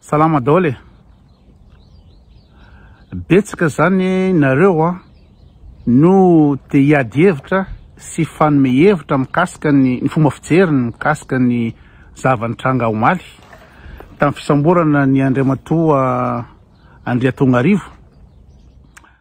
Salama daholo e! Betsaka zany nareo a no te hiady hevitra sy hifanome hevitra mikasika ny ny fomba fijeriny mikasika ny zava-nitranga omaly tamin'ny fisamborana ny Andriamatoa Andriatongarivo.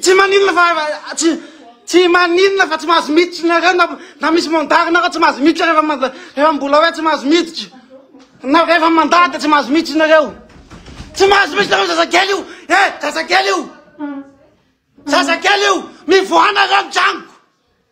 Tsy maninona fa tsy tsy maninona fa tsy mahazo miditra nareo na na misy mandat nareo tsy mahazo miditra rehefa manda rehefa mbola hoe tsy mahazo miditra. Na rehefa mandat dia tsy mahazo miditra nareo. Tsy mahazo miditra nareo zazakely io. Eh, zazakely io. Zazakely io. Mivoaha nareo ny tragnoko.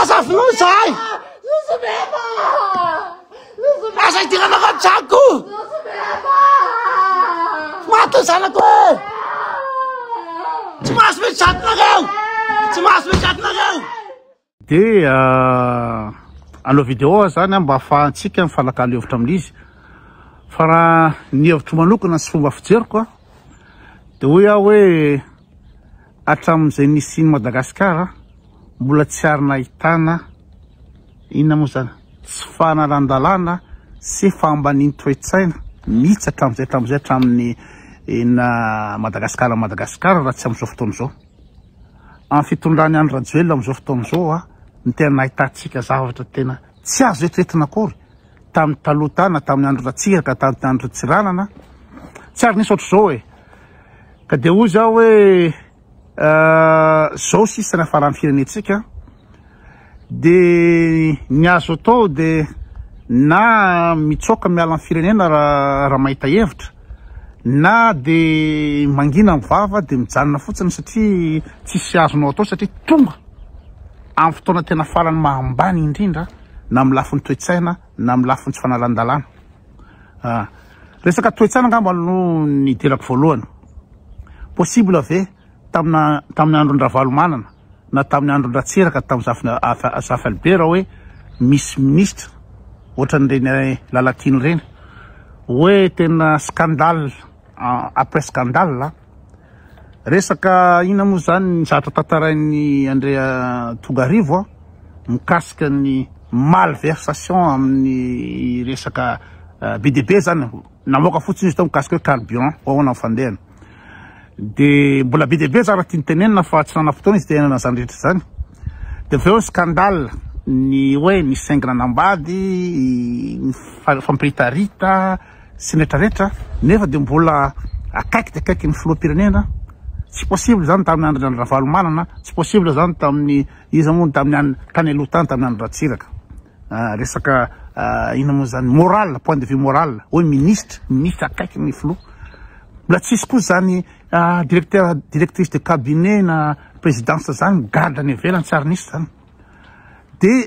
Aza vonoy zahay! Aza idirana ao an-tranoko! Maty ny zanako e! Tsy mahazo mety zatinareo! Tsy mahazo mety zatinareo! Dia anao vidéo zany mba afahantsika mifanakalo hevitra amin'izy. Fa raha ny hevitro manokana sy fomba fijeriko dia hoy aho hoe Hatramin'izay nisian'i Madagasikara mbola tsy ary nahitana inona moa izany? tsy fahalalandalana sy fahambanian'ny toe-tsaina mihitsy hatramin'izay hatramin'izay hatramin'ny ina Madagasikara Madagasikara raha tsy amin'izao fotoana izao. Amin'ny fitondran'i Andry Rajoelina amin'izao fotoana izao a no tena nahitantsika zavatra tena tsy azo eritreretina akory tamin'ny taloha tany na tamin'ny andro Ratsiraka tamin'ny andro Tsiranana tsy ary nisy ohatr'izao e! Ka dia hoy zaho hoe zao sisa nafaran'ny firenentsika de ny azo atao de na mitsoaka miala ny firenena raha mahita hevitra na de mangina ny vava de mijanona fotsiny satria tsisy azonao atao satria tonga amin'ny fotoana tena farany mahambany indrindra na amin'ny lafiny toe-tsaina na amin'ny lafiny tsy fanalan-dalàna Ah, resaka toetsana angamba no nidirako voalohany. Possible ve tamina tamin'ny andron-dRavalomanana na tamin'ny andron-dRatsiraka tamin'ny zafy zafy Albert hoe misy ministra ohatran'ireny Lalatiana ireny hoe tena scandale après scandale? Resaka inona moa izany ny zavatra tantarain'i Andrea Tongarivo mikasika ny malversation amin'ny resaka eh, be dia be izany namoaka fotsiny izy tao mikasika hoe carburant ho ahoana ny fandehany dia mbola be dia be izany raha tiany tenenina fa tsy nanam-potoana izy te hiainana izany rehetra izany dia avy eo scandale ny hoe ny sengina nambady ny fa- fampiritarita sy ny rehetra rehetra nefa dia mbola akaiky dia akaiky ny filoham-pirenena tsy possible zany tamin'ny andron'i Andry Ravalomanana tsy possible zany tamin'ny iza moa tamin'ny any tany aloha tany tamin'ny Andry Ratsiraka ah, resaka ah, ina moa zany moral point de vue moral hoe ministre ministre akaiky ny filoha mbola tsisy koa zany ah, directeur directrice de cabinet na présidence zany migadra any ivelany tsy ary nisy zany dia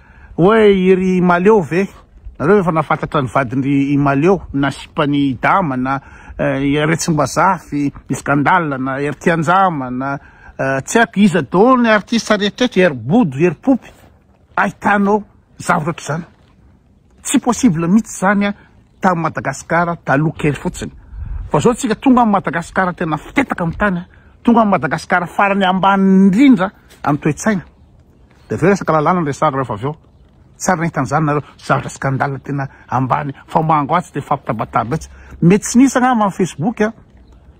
Oe i ry Imaleo ve? Nareo efa nafantatra ny vadindry Imaleo na sipany Dama na Retsimbazah fy i Scandal na Hery Tianjama na tsy haiko iza daholo ny artiste rehetrretra Hery Bodo Hery Poopy ahitanao zavatra otrizany tsy possible mitsy zany tam Madagascar taloha kely fotsiny fa zao tsika tonga am Madagascar tena fitetaka am tany tonga am Madagascar farany ambany indrindra am toetsaina Dia avy eo resaka lalàna no resahana rehefa avy eo. Tsy ary nahita an'izany nareo. Zavatra scandale tena ambany fa mango atsy dia fampitabataba etsy. Mety tsy nisy angamba ny Facebook a!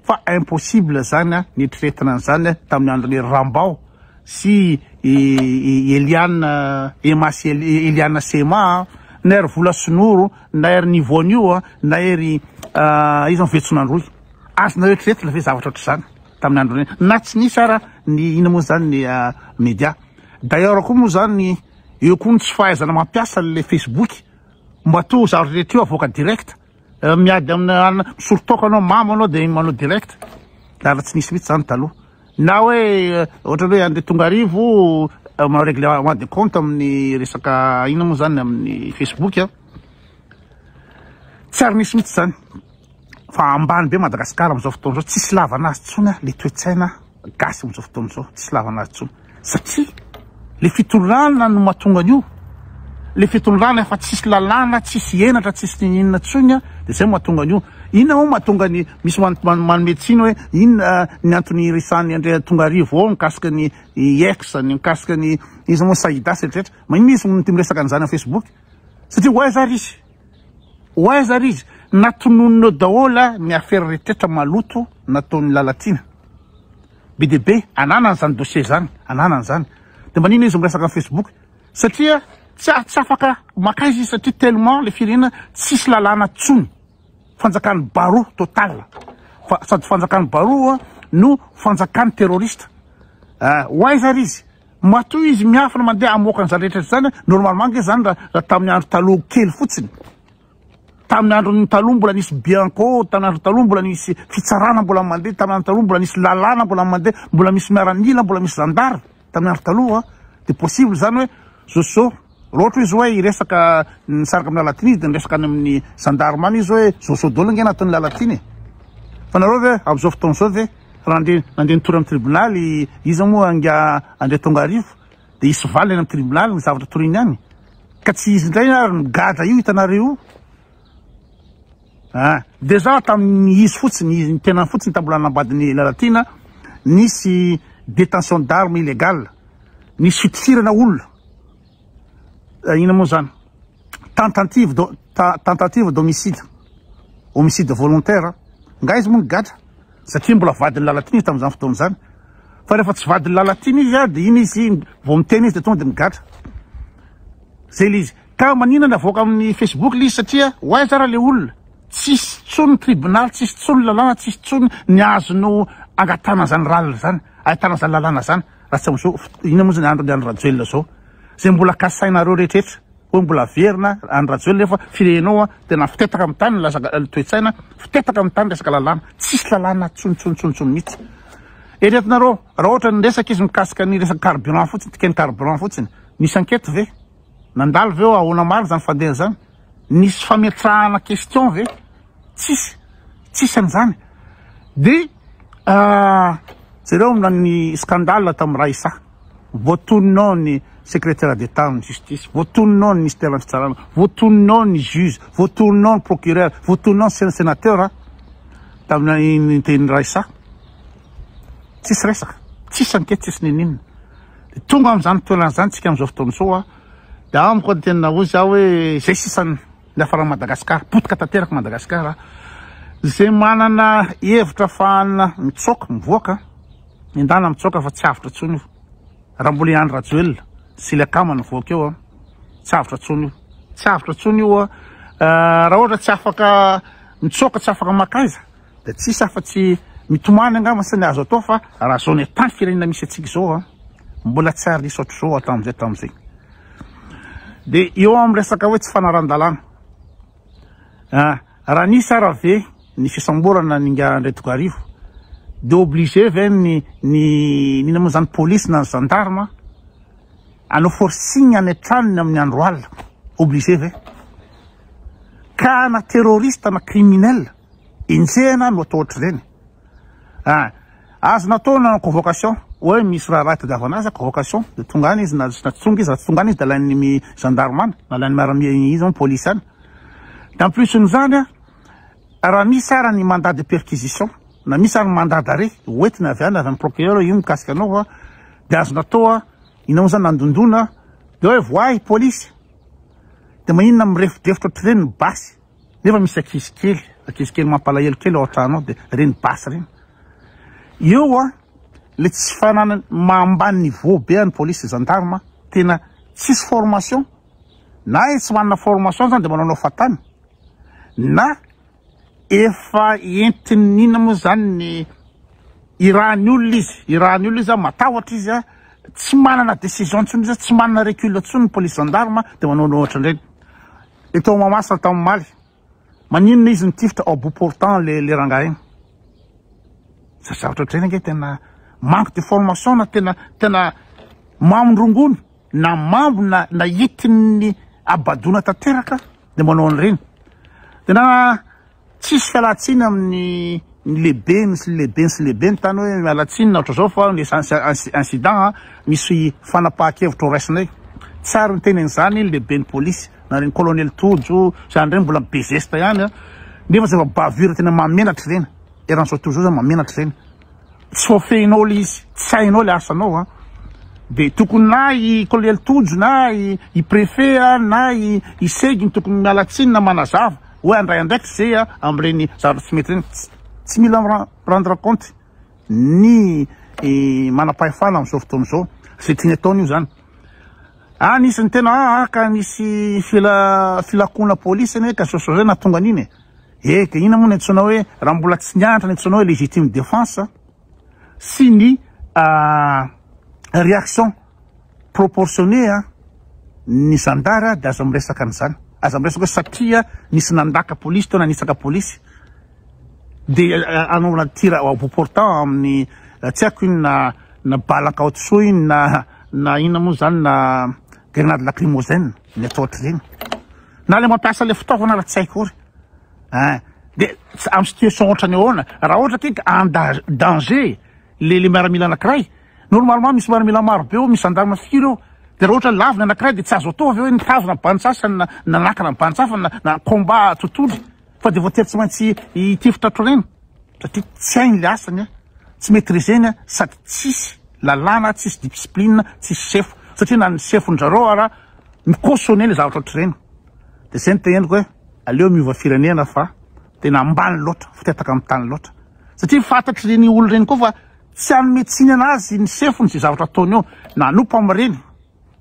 Fa impossible izany a! Nieritreretina an'izany tamin'ny andron'i Rambao sy i Eliane Emma sy Eliane sy Emma a! Na ery vola sy noro, na ery Nivonio, na ery iza moa Vetsonandroy. Azonao eritreretina ve zavatra ohatr'izany? tamin'ny androny na tsy nisy ara ny ina moa zany ny media d'ailleurs koa moa zany eo koa ny tsy fahaizana mampiasa le facebook mba to zaro rehetra io avoaka direct miady amina misoritoko anao mamo anao de manao direct raha tsy nisy mihitsy zany taloha na hoe ohatra hoe andre tonga arivo manao règlement de compte amin'ny resaka ina moa zany amin'ny facebook a tsy ary nisy mihitsy zany Fa ambany be Madagascar amzao fotoana zao, tsisy ilavana azy tsony a, le toetsaina gasy amzao fotoana zao, tsisy ilavana azy tsony satria le fitondràna no matonga an'io, le fitondràna efa tsisy lalàna, tsisy henatra, tsisy ny inona tsony a, de zay matonga an'io, inona moa matonga ny misy man manome tsiny oe inona ny antony iresahan'i Andriatongarivo ao mikasika ny ex, ny mikasika ny iza moa Saida sy ny retraretra, ma inona izy no tia miresaka an'zany am Facebook, satria ho aiza ary izy. Ho aiza ary izy? Natononinao daholo a ny afera retetra maloto nataon'i Lalatiana. Be dia be ananany zany dossier zany, ananany zany. De manina izy miresaka am Facebook? Satria tsy tsy afaka makaiza izy satria tellement le firenena tsisy lalàna tsony. Fanjakan'ny baroa total. Fa sady fanjakan'ny baroa no fanjakan'ny terroriste. Ho aiza ary izy? Matoa izy miafina mandeha hamoaka an'izany rehetra rehetra izany, normalement ange izany raha raha tamin'ny andro taloha kely fotsiny. Tamin'ny andron'ny taloha mbola nisy bianco, tamin'ny andron'ny taloha mbola nisy fitsarana mbola mandeha, tamin'ny andron'ny taloha mbola nisy lalàna mbola mandeha, mbola misy miaramila, mbola misy zandary tamin'ny andro taloha, dia possible izany hoe zao zao. Loatra izy hoe hiresaka ny saraka amin'ny Lalatina izy dia niresaka any amin'ny gendarme any izy hoe zao sao dol ange nataon'ny Lalatina e! Fa nareo ve amin'izao fotoana izao ve raha nandre nandeha nitory amin'ny tribonaly iza moa anga andria Tongarivo dia hisy valiny any amin'ny tribonaly ny zavatra toriany any ka tsy izy indray ary ny gadra io hitanareo io Ah! Dejà tamin'ny izy fotsiny, ny tenany fotsiny tamin'ny mbola nanambadin'i Lalatiana, nisy détention d'armes illégales, nisy fitifirana olona, inona moa izany? Tentative d'ho- ta- tentative d'homicide, homicide volontaire, nga izy moa nigadra, satria mbola vadin'i Lalatiana izy tamin'izany fotoana izany, fa rehefa tsy vadin'i Lalatiana izy dia iny izy vao miteny izy dia tonga dia migadra. Zay ilay izy. Ka manina navoaka amin'ny Facebook ilay izy satria ho aiza ary ilay olona? Tsisy tsony ny tribunal, tsisy tsony ny lalàna, tsisy tsony ny azonao angatahana izany lalina izany, ahitana izany lalàna izany raha tsy amin'izao fot-, inona moa izany andro ny Andry Rajoelina izao? Izay mbola kasainareo rehetraretra hoe mbola haverina Andry Rajoelina nefa firenao tena fitetaka amin'ny tany ny lasaka ny toe-tsaina, fitetaka amin'ny tany resaka lalàna, tsisy lalàna tsony tsony tsony tsony mihitsy. Eretinareo raha ohatra ny resaka izy mikasika ny resaka carburant fotsiny, dikany carburant fotsiny, nisy enquete ve? Nandalo ve eo ahoana marina izany fandeha zany? Nisy fametrahana question ve? Tsisy, tsisy an'izany. De jereo na ny scandale tamin'ny Raissa, voatonona ao ny secretaire d'Etat amin'ny justice, voatonona ao ny ministère ny fitsarana, voatonona ao ny juge, voatonona ao ny procureur, voatonona ao ny senateur tamin'ny tenin'i Raissa. Tsisy resaka, tsisy enquête, tsisy n'inon'inona. Tonga amin'izany toerana izany tsika amin'izao fotoana izao a, dia amiko ny tena hoy za hoe izay sisa ny hiafaran'i Madagasikara, potika tanteraka Madagasikara a, izay manana hevitra afahana mitsoaka, mivoaka, endana mitsoaka fa tsy avotra intsony io, raha mbola i Andry Rajoelina sy ilay kama nivoaka eo a, tsy avotra intsony io, tsy avotra intsony io a, raha ohatra tsy afaka mitsoaka, tsy afaka makaiza. Dia tsisy afa tsy mitomany angamba sa ny azo atao fa raha zao ny état ny firenena misy antsika zao a, mbola tsy ary nisy ohatr'izao hatramin'izay hatramin'izay. Dia eo amin'ny resaka hoe tsy fanaran-dalàna, ah, raha nisy ara ve ny fisamborana n'ingahy Andriantokoarivo dia obligé ve ny ny n'inona moa zany polisy na ny gendarme hanao forcing any an-tranony amin'ny andro alina, obligé ve? Ka na terroriste na criminel, Enjehina no atao ohatr'ireny. Ah! Azo natao ny nanao convocation, hoe misy raharaha itadiavana azy, convocation, dia tonga any izy, na tsy tonga izy, raha tsy tonga any izy dia alain'ny gendarme any, na alain'ny miaramila izy any, polisy any. Dia en plus n'izany an, raha misy ary ny mandat de perquisition, na misy ary ny mandat d'arrêt, ho entina avy any, avy amin'ny procureur, io mikasika anao an, dia azo natao an, ianao moa izany nandondona, dia hoe voahy polisy, dia maninona mirefodefotra ohatr'ireny ny basy. Nefa misy ankizy kely, ankizy kely mampalahelo kely ao an-trano ao dia ireny basy ireny. Eo an, ilay tsy fananany maha ambany niveau be an'ny police sy gendarme, tena tsisy formation, na izy tsy manana formation izany dia manaonao fahatany, na efa entiny inona moa izany ny irahan'ny olona izy, irahan'ny olona izy an, matahotra izy an, tsy manana décision intsony izy an, tsy manana recul intsony ny police gendarme dia manaonao ohatran'ireny. Le tao Mahamasina tao omaly. Maninona izy nitifitra au bout portant le le rangahy igny. Za zavatra ohatr'izay ange tena manque de formation na tena tena maminy rongony na mambo na na itin'ny abadona tanteraka de manao an'ireny. Tena Tsisy fialantsiny amin'ny ny lehibeny sy ny lehibeny sy ny lehibeny tany hoe miala tsiny na ohatran'izao fa ny essentiel incident a misy fanapahan-kevitra ho raisinay. Tsy ary niteny an'izany ny lehiben'ny polisy na reny colonel Tojo izany indray mbola be zesta ihany a. Nefa zava-bavure tena mahamenatra ireny eran'izao tojo izao zany mahamenatra ireny. tsy voafehinao ilay izy, tsy hainao ilay asanao an! dia tokony na i kolonely Tojo na i préfet an, na i segy no tokony miala tsiny na manazava hoe handray andraikitra ze an amin'ireny zavatra tsy mety ireny, tsy mila mi-rendre compte ny manam-pahefana amin'izao fotoana izao ze tiany ataony io zany. Anisan'ny tena haka nisy filakoana polisy anie ka sosozay nahatonga an'iny e! Eh dia inona moa no antsoina hoe raha mbola tsy nianatra ny antsoina hoe légitime défense sy ny réaction proportionnée an ny zandary dia aza miresaka an'izany aza miresaka hoe satria nisy nandaka polisy teo na nitsaka polisy dia anaovana tira au bout portant amin'ny tsy haiko inona na bala ankaotisoa inona na inona moa izany na Grenade lacrymogène ny atao ohatr'ireny. Na le mampiasa le fitaovana raha tsy hay kory. Hein. De am situation ohatrany ahoana? Raha ohatra ke ka en danger le le miaramila anankiray, normalement misy miaramila maro be eo, misy gendarme firy eo. De raha ohatra lavo ny anankiray de tsy azo atao ve hoe nitazona bandy sasany na nanakana ny bandy sasany na combat totohondry. Fa dia voatery tsy maintsy hitifitra hatroriana satria tsy hainy ilay asany, tsy maîtriseny sady tsisy lalàna, tsisy dipsiplinina, tsisy sefo. Satria na ny sefon-dry zareo ara mi-cautionner ilay zavatra hatroriana. Dia izay no teneniko hoe aleo miova firenena fa tena ambany loatra, fitataka amin'ny tany loatra. Satria fantatr'ireny olona ireny koa fa tsy hanome tsiny an'azy ny sefony izay zavatra ataony eo na hanompa amin'ireny.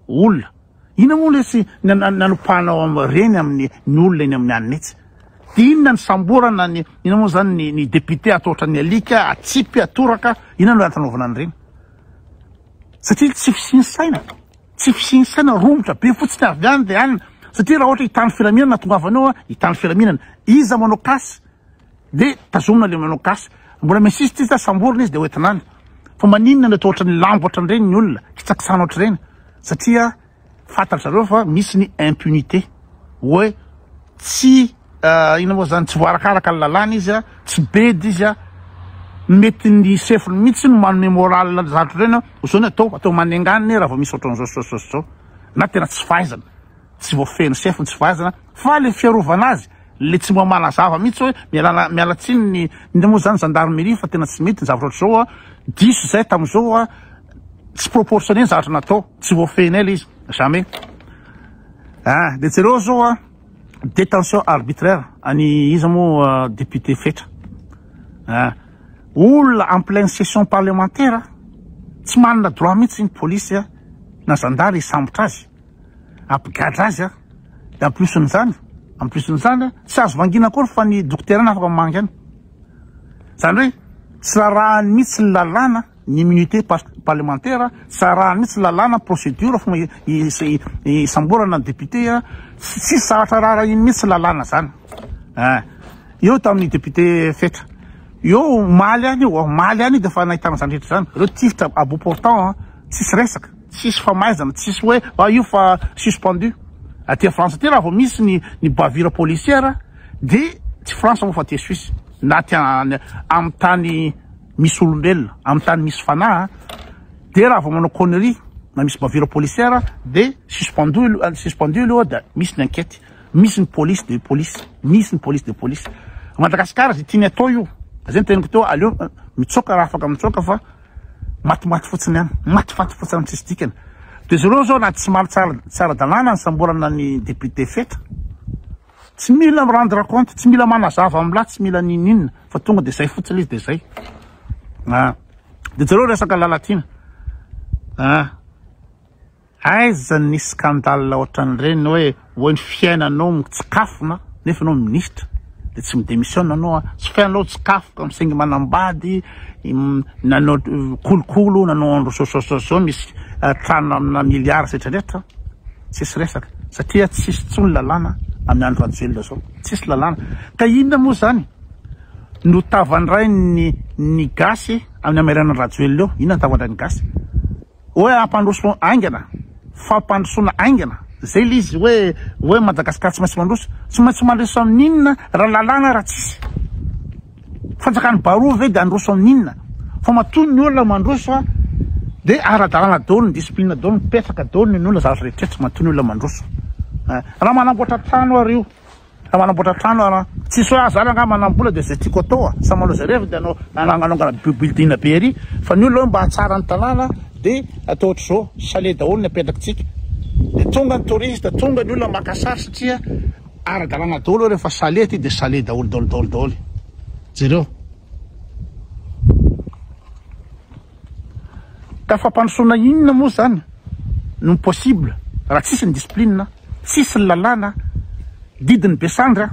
Olona. Inona moa lesy ny nanopahanao reny amin'ny ny olona eny amin'ny anona etsy? Dia inona ny samborana ny inona moa izany ny ny député atao ohatran'ny alika, atsipy, atoraka, inona no antanaovana an'ireny? Satria tsy fisian'ny saina, tsy fisian'ny saina, romotra be fotsiny avy any dia any, satria raha ohatra hitan'ny filaminana, tongava any eo an, hitan'ny filaminana, iza manao cas? De tazomina le manao gasy. Mbola mi-insiste izy sa samborina izy de hoentina any. Fa maninona no atao ohatran'ny lambo ohatran'ireny ny olona, kitsakitsana ohatr'ireny? Satria fantatry zareo fa misy ny impunité. Hoe tsy inona moa zany, tsy voarakaraka ny lalàna izy a, tsy bedy izy a, mety ny chef-ny mihitsy no manome morale ny zandry ireny hoe zao ny atao, atao manenga any raha vao misy ohatran'izao sy zao sy zao sy zao. Na tena tsy fahaizana. Tsy voafehiny sefo ny tsy fahaizana fa le fiarovana azy le tsy mba manazava mihitsy hoe mialana miala tsiny ny inona moa zany zandarmerie fa tena tsy mety ny zavatra ohatr'izao a! diso zay tamin'izao a! tsy proportionné ny zavatra natao tsy voafehinay le izy jamais ah! de jereo zao a! détention arbitraire any iza moa député fetra ah! olona en pleine session parlementaire tsy manana droit mihitsy ny police na zandary hisambotra azy Hampigadra azy an! Dia en plus n'izany, en plus n'izany an, tsy azo vangiana akory fa ny dokotera ihany afaka mamangy an! Izany hoe tsy rarahany mihitsy ny lalàna ny immunité parlementaire an, tsy rarahany mihitsy ny lalàna ny procédure fomba hisamborana ny député an, tsisy zavatra rarahiny mihitsy ny lalàna izany an! Eo tamin'ny député Fetra, eo omaly any, omaly any dia efa nahitana izany rehetra izany, ireo tifitra à bout portant an, tsisy resaka. Tsisy famaizana, tsisy hoe ah io fa suspendu. Aty a France aty raha vao misy ny ny bavure policière de tsy France moa fa aty Suisse na aty an amin'ny tany misy olombelona, amin'ny tany misy fanahy de raha vao manao connerie na misy bavure policière de suspendu aloha suspendu aloha de misy ny enquete, misy ny police de police, misy ny police de police. Madagascar ze tiany atao io, zay ny teniko teo aleo mitsoaka raha afaka mitsoaka fa matimaty fotsiny ihany, matifaty fotsiny amin'ny tsisy dikany. Dia izy ireo izao na tsy maro tsara tsy ara-dalàna ny samborana ny député Fetra, tsy mila mi-rendre compte, tsy mila manazava amin'ny lahy, tsy mila n'inon'inona fa tonga dia izay fotsiny izy dia izay. Dia jereo resaka Lalatiana. Aiza ny scandale ohatran'ireny hoe oe ny fiainanao mitsikafona nefa enao ministra de tsy mi-demissionne enao a, tsy fiainanao tsikafoka misaingy manambady, nanao kolokolo, nanao andro zao misy trano amina milliards zetra retra tsisy resaka satria tsisy tsony lalàna amin'ny andro rajoelina zao tsisy lalàna ka inona moa zany no tavandrain'ny ny gasy amin'ny amairanan'i rajoelina eo, inona ny tavandrain'ny gasy? Hoe hampandroso haingana, fampandrosoana haingana, izay ilay izy hoe, hoe Madagasikara tsy maintsy mandroso. Tsy maintsy mandroso amin'inona raha lalàna raha tsisy? Fanjakan'i Baroa ve dia handroso amin'inona? Fa matoa ny olona mandroso dia ara-dalàna daholo, ny discipline daholo mipetraka daholo ny ny olona, zavatra rehetra rehetra, matoa ny olona mandroso. Raha manamboatra trano ary io. Raha manamboatra trano ara, tsisy hoe ah zany angaha manambola de zay tiako atao a, samy manao zay reviny de anao ananganongana building be ery fa ny olona hoe mba hahatsara ny tanàna de atao ohatr'izao, chalet daholo ny apetrakintsika de tonga ny touriste, tonga ny olona maka sary satria ara-dalàna daholo hoe rehefa chalet aty de chalet daholo daholo daholo daholo, jereo. Ka fampandrosoana inona moa zany no possible raha tsisy ny discipline, tsisy ny lalàna, didin'ny be sandry an!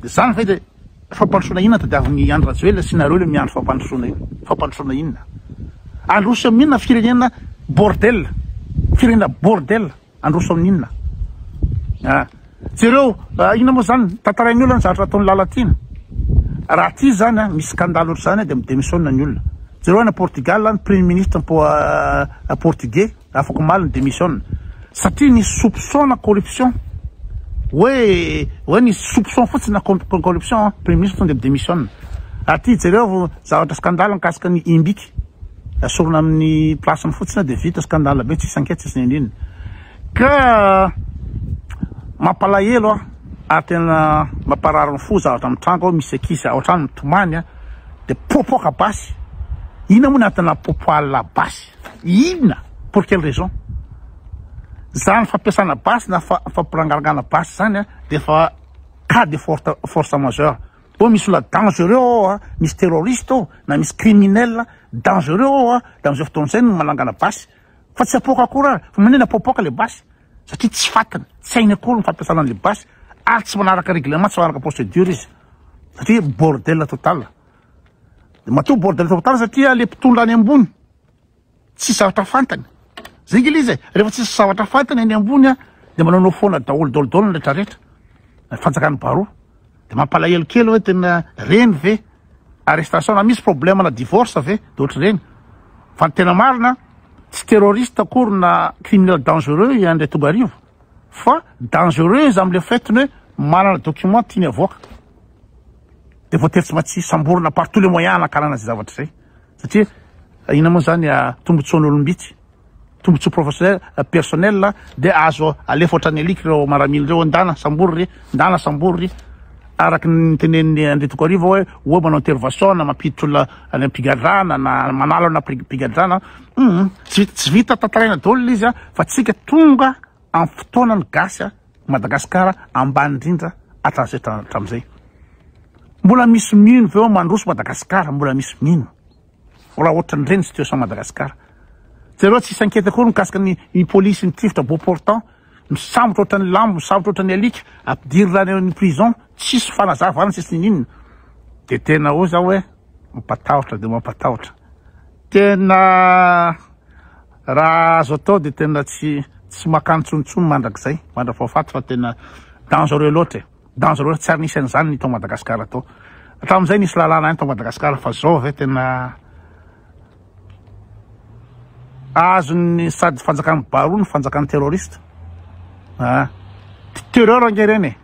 Zany ve le fampandrosoana inona tadiavin'i Andry Rajoelina sy nareo le miandry fampandrosoana io? Fampandrosoana inona? Androso amin'inona firenena bordel, firenena bordel. Handroso amin'ny inona a! Jereo a! Inona moa izany tantarain'ny olona ny zavatra ataon'i Lalatiana? Raha aty izany a, misy scandale ohatr'izany a, dia mi-demissionne ny olona. Jereo any Portugal any, premier ministre po a, portugais, afak'omaly ni-demissionne. Satria nisy soupçon na corruption. Hoe, hoe nisy soupçon fotsiny na com-com-corruption, premier ministre tonga dia mi-demissionne. Aty jereo zavatra scandale mikasika an'i Imbic. Esorina amin'ny place-ny fotsiny dia vita, scandale be tsisy ankehatra tsisy nindrina ka mampalahelo an! ary tena mamparary ny fo zavatra mitranga ao misy ankizy ao an-trano mitomany an! dia popoka basy, inona moa ny antony napopohana basy? inona? pour quelle raison? izany fampiasana basy na fampirangarangana basy izany an! dia efa cas de force majeure Ô misy olona dangereux ao a, misy terroriste ao, na misy criminel dangereux ao a, de amzao fotoana zay no manangana basy, fa tsy apoaka akory ary, fa manina apoapoaka le basy, satria tsy fatiny, tsy hainy akory ny fampiasana anle basy, ary tsy manaraka règlement, tsy manaraka procedure izy, satria bordel total, de matoa bordel total satria le mpitondra any ambony, tsisy zavatra fantany zay nge le izy e rehefa tsisy zavatra fantany any ambony a de manaonao foana daholo daholo daholo ny rehetra rehetra na fanjakan'ny baroa de mampalahelo kely hoe tena reny ve arrestation na misy problème na divorce ve de ohatr'ireny fa ny tena marina tsy terroriste akory na criminel dangereux i André Tongarivo fa dangereux izy am'le faitiny hoe manana document tiany avoaka de voatery tsy maintsy samborina par tous les moyens hanakarana izay zavatra izay Satria inona moa izany tombotsoan'olom-bitsy, tombotsoa professionnel, personnel dia azo alefa ohatran'ny alika ireo maramila ireo hoe ndana sambory ry, ndana sambory ry. Araka ny nitenenin'i Andry Tokoarivo hoe oa manao intervention na mampiditra olona any am-pigadrana na manalo ana mpigadrana, hum tsy vita tantaraina daholo ilay izy fa tsika tonga amin'ny fotoana ny gasy a. Madagasikara ambany indrindra hatramizay hatramizay. Mbola misy mino veo mandroso Madagasikara mbola misy mino raha ohatran dreny situation Madagasikara. Jereo tsisy enquete akory mikasika ny ny police ny tifitra beau portant misambotra ohatran'ny lambo misambotra ohatran'ny alika ampidirina any amin'ny prison tsisy fanazavana tsisy ninina de tena oa za oe mampatahotra de mampatahotra tena Raha azo atao dia tena tsy tsy makany tsony tsony mandrakizay mandravafaty fa tena dangereux loatra e. Dangereux tsy ary nisy an'izany ny tao Madagascar tao. Hatramin'izay nisy lalàna any tao Madagascar fa zao ve tena azon'ny sady fanjakan'ny baroa no fanjakan'ny terroriste. Ah. Terreur ange ireny e.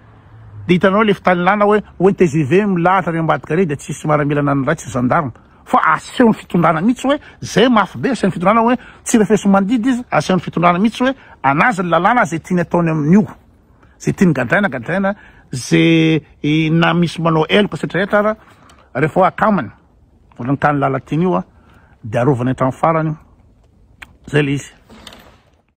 Dia hitanao le fitanilana hoe hoe ny TGV milahatra any ambadika ary dia tsisy maramilana ny ratsy ny gendarme. Fa asehon'ny fitondrana mihitsy hoe zay mafy be asehon'ny fitondrana hoe tsy refesomandidy izy asehon'ny fitondrana mihitsy hoe anazy ny lalàna zay tiany ataony amin'io zay tiany gadraina gadraina zay na misy manao heloka sy rehetra ara rehefa hoe akamany ohatran'ny tany lalatiana io a de arovana hatramin'ny farany zay le izy.